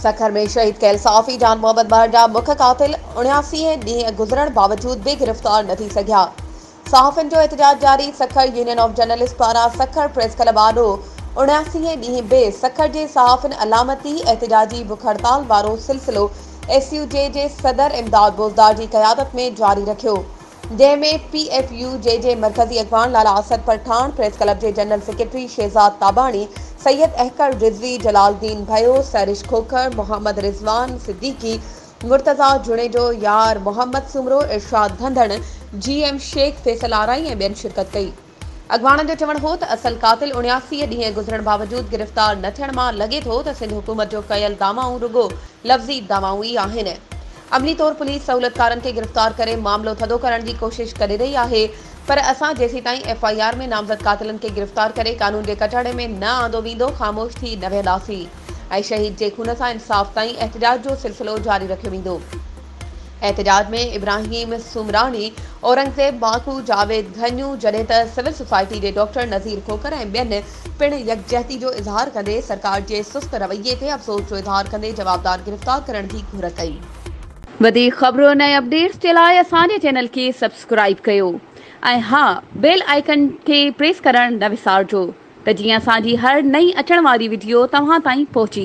سکر ۾ شهيد ڪيل صحافي جان محمد مهر جا مک قاتل اڻياسي ڏينهن گذرڻ باوجود به گرفتار نه ٿي سگهيا صحافين جو احتجاج جاري، سکر يونين آف جرنلسٽ پاران سکر پريس ڪلب آڏو اڻياسين هين ڏينهن به سکر جي صحافين علامتي احتجاجي بک هڙتال وارو سلسلو ايس يو جي جي صدر امداد بوزدار جي قيادت ۾ جاري رکيو جنهن ۾ پي ايف يو جي جي مرڪزي اڳواڻ لالا اسد پرٺاڻ پريس ڪلب جي جنرل سيڪريٽري شهزاد تاباڻي سيد احقر رضوي جلال الدين ڀيو سرش کوکر محمد رضوان صديقي مرتضيٰ جوڻيجو، يار محمد سومرو، ارشاد ڌنڌڻ، جي ايم شيخ، فيصل آرائي ۽ ٻين شرڪت ڪئي. اڳواڻن جو چوڻ هو ته اصل قاتل اڻياسي ڏينهن گذرڻ باوجود گرفتار نه ٿيڻ مان لڳي ٿو ته سنڌ حڪومت جو ڪيل دعوائون رڳو لفظي دعوائون ئي آهن. عملي طور پوليس سهولتڪارن کي گرفتار ڪري معاملو ٿڌو ڪرڻ جي ڪوشش ڪري رهي آهي پر اسان جيسيتائين ايف آء آر ۾ نامزد قاتلن کي گرفتار ڪري قانون جي ڪٽهڙي ۾ نه آندو ويندو خاموش ٿي نه ويهنداسين. ۽ شهيد جي خون سان انصاف تائين احتجاج جو سلسلو جاري رکيو ويندو. احتجاج ۾ ابراهيم سومراڻي، اورنگزيب ماکو، جاويد گهنيو جڏهن ته سول سوسائٽي جي ڊاڪٽر نذير کوکر ۽ ٻين پڻ يڪجهتي جو اظهار ڪندي سرڪار جي سست رويي تي افسوس جو اظهار ڪندي جوابدار گرفتار ڪرڻ جي گهر ڪئي. وڌيڪ خبرون ۽ اپڊيٽس جي لاء اسان جي چينل کي سبسڪرائيب ڪيو. ۽ ها بيل آئيڪن کي پريس ڪرڻ نه وسارجو ته جيئن اسان جي هر نئين اچڻ واري وڊيو توهان تائين پهچي